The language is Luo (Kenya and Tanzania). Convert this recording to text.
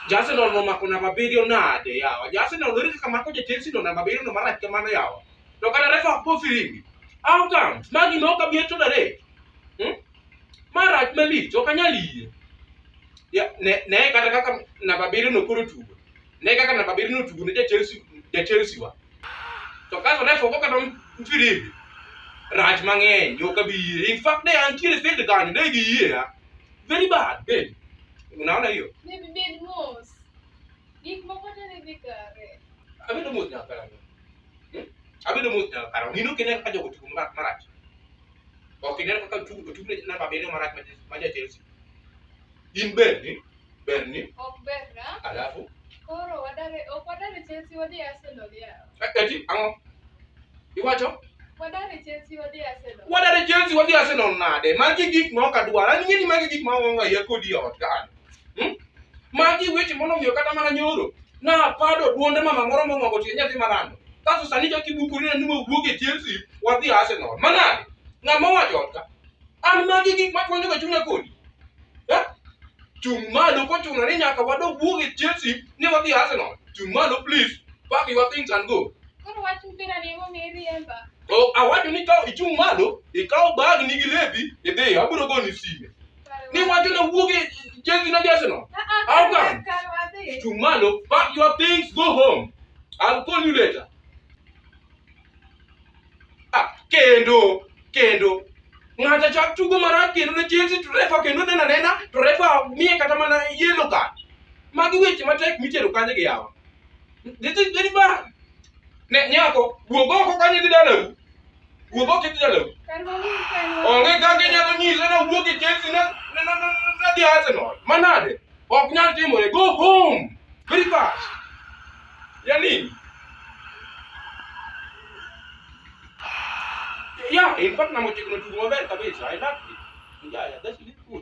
Jasi no no makuna mabirio nade yawa. Jasi no lirika kama ko jetensi no na mabirio no marach kamano yawa. To kana refa po firingi. How come? Magi no ka bieto dare. Hmm? Marach malich ok anyal yie. Ya ne ne kata kaka na mabirio no koro tugo. ne kaka namba abiriyo notugo ne ja-Chelsea ja-Chelsea wa to kaso refa ogo kata mfirimbi rach mang'eny ok abi yie in fact ne antiere field kanyo ne giyiea very bad babe unaona hiyo Baby, bed mos. Gik moko te ne dhi kare. abedo mos nyaka karang'o Hmm? abedo mos nyaka karang'o in ok ine kaka jogo tugo ma- marach ok ine kaka tugo tugo ne namba abiriyo marach ma- ma ja-Chelsea in bende Ber ni? Ok ber na. Alafu? Koro wadare, ok wadare Chelsea wadhi Arsenal yawa. Eh, eti, ang'o? Iwacho? Wadare Chelsea wadhi Arsenal. Wadare Chelsea wadhi Arsenal nade? Magi gik ma ok adwar. An ing'e ni magi gik ma onge ya kodi e ot kan. Hmm? Magi weche mono miyo kata mana nyoro. Na pado duonde mama moro mong'ogo tie nyathi marando. Kaso sani joki bukuri na nimo wuoge Chelsea wadhi Arsenal. Manade? Ng'ama wacho ot ka? An magi gik ma chwanyo ga chunya kodi. Eh? Chung' malo kochuno ni nyaka wadog wuog e Chelsea ni wadhi Arsenal. Chung' malo please. Pack your things and go. Koro wach mpira ni emo mi riemba. Oh, awacho ni ka ichung' malo, ikaw bag ni gi lepi, idhi, abiro goni sime. Ni wacho na wuog e Chelsea na gi Arsenal. How come? Chung' malo, pack your things, go home. I'll call you later. Ah, kendo kendo ng'ato chak tugo marach kendo ne Chelsea to refa kendo nena nena to refa miye kata mana yellow card magi weche matek mitero kanye gi yawa this is very bad ne nyako wuog oko kanye gi dalau wuog oko gi dalau onge kaka inyalo nyise na wuog e Chelsea na na na na na dhi Arsenal manade Ok nyal timore. Go home. Very fast. Ya nini? Yeah, in fact, na mochikno tugo maber kabisa. I love it. Yeah, yeah, that's really cool.